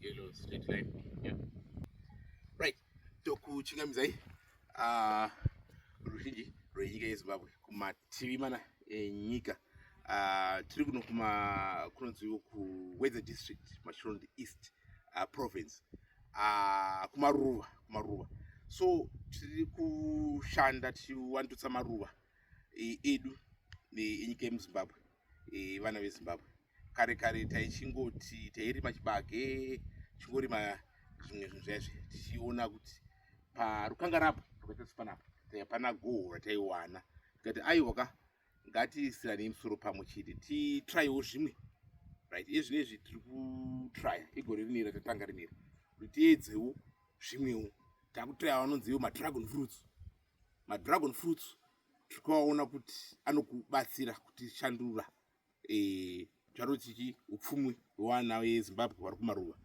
yellow straight line yeah. right tokuchingamidzai uh, ah, ruzhinji rwenyika yezimbabwe kumativi mana enyika eh, Ah, tiri kuno kuma kunonziwo kuweather district machirondi east uh, province uh, kumaruva kumaruva so tiri kushanda tichiwandutsa maruva edu enyika yemuzimbabwe e, vana vezimbabwe kare kare taichingoti tairima chibage chingorima zvimwe zvinhu zvaizve tichiona kuti parukanga rapo rwakaita sepanapa taipana goho rataiwana tikati aiwa ka ngatisirane musoro pamwe chete titraiwo zvimwe right ezvinezvi tiri kutraya igore rinera tatanga rinera kuti tiedzewo zvimwewo takutraya vanonziwo madragon fruits madragon fruits tikaona kuti anokubatsira kutishandura eh, charo chichi upfumi hwevana vezimbabwe vari kumaruva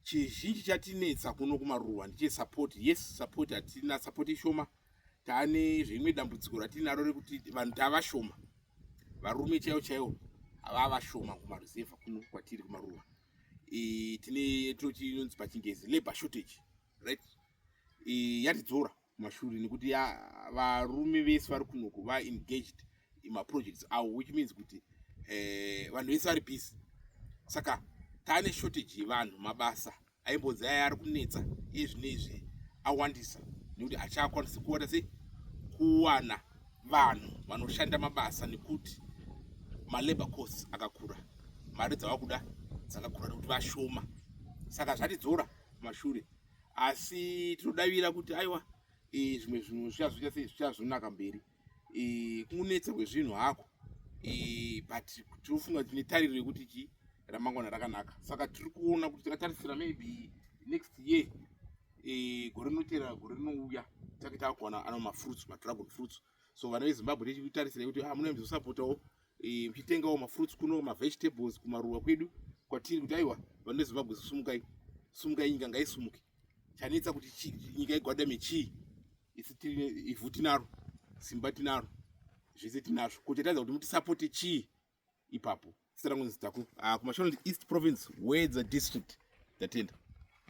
chizhinji chatinetsa kuno kumaruva ndichesupport yes support hatina support ishoma taane zveimwe dambudziko ratinaro rekuti vanhu tavashoma varume chaivo chaivo havavashoma kumaruzevha kuno kwatiri kumaruva e, tine tinotinonzi pachingezi labor shortage right e, yatidzora mashure nekuti ya varume vese vari kunoko va engaged imaprojects awo which means kuti eh, vanhu vese vari busy saka tane shortage yevanhu mabasa aimbonzi aya ari kunetsa ezvine izvi awandisa nekuti achakwanisi kuona sei kuwana vanhu vanoshanda mabasa nekuti malabor costs akakura mari dzavakuda dzakakura nekuti vashoma saka zvatidzora mashure asi tinodavira kuti aiwa e, zvimwe zvinhu zvichazoita sei zvichazonaka mberi e, kunetsa kwezvinhu hako e, but tinofunga tine tariro yekuti chii ramangwana rakanaka saka tiri kuona kuti tikatarisira maybe next year e, gore rinotera gore rinouya take takuwana ano mafruits madragon fruits so vana vezimbabwe tichitarisira kuti ah, munoemzosapotawo eh, muchitengawo mafruits kuno mavegetables kumaruwa kwedu kwatiri kuti aiwa vanhu vezimbabwe sumukai sumukai nyika ngaisumuke chanetsa kuti nyika igwadame chii isi tiri ivhu tinaro simba tinaro zvese tinazvo ko chatadza kuti mutisapote chii ipapo sita rangu nzitaku ah, kumashonaland east province wedza district tatenda